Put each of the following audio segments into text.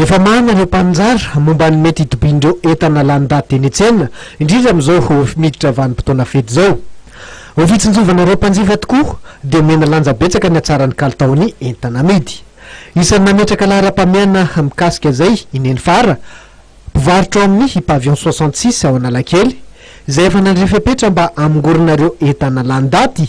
Efa marina ireo mpaninjara momba ny mety hitobian'ireo entana lany daty eny an-tsena, indrindra amin'izao miditra vanim-potoana fety izao. Ho fitsinjovan'ireo mpanjifa tokoa dia omena lanja betsaka ny hatsaran'ny kalitaon'ny entana amidy. Isan'ny nametraka laharam-pahamehana mikasika izay i Neny Fara, mpivarotra ao amin'ny Pavillon soixante six ao Analakely, izay efa nandray fepetra mba hamongorana ireo entana lany daty.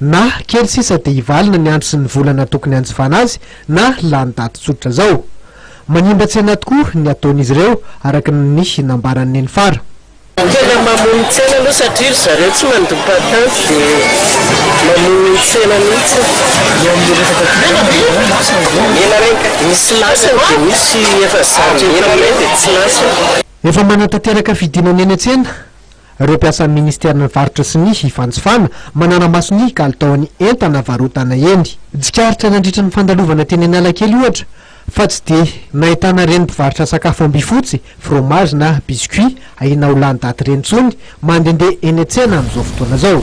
Na kely sisa dia hivalona ny andro sy ny volana tokony hanjifana azy na lany daty tsotra zao. Manimba tsena tokoa ny ataon'izy ireo araka ny nambaran'i Neny Fara. Tena mamono tsena aloha satria ry zareo tsy mandoa patenty dia mamono ny tsena mihitsy. Mena reny ka. Misy lasany dia misy efa zary mena reny dia tsy lasany. Efa manatanteraka fidinana eny an-tsena. Ireo mpiasan'ny minisiteran'ny Varotra sy ny Fanjifana manara-maso ny kalitaon'ny entana varotana eny. Tsikaritra nandritra ny fandalovana teny Analakely ohatra fa tsy dia nahitana ireny mpivarotra sakafo ambifotsy, fromazy na biscuits ahiana ho lany daty ireny intsony mandehandeha eny an-tsena amin'izao fotoana izao.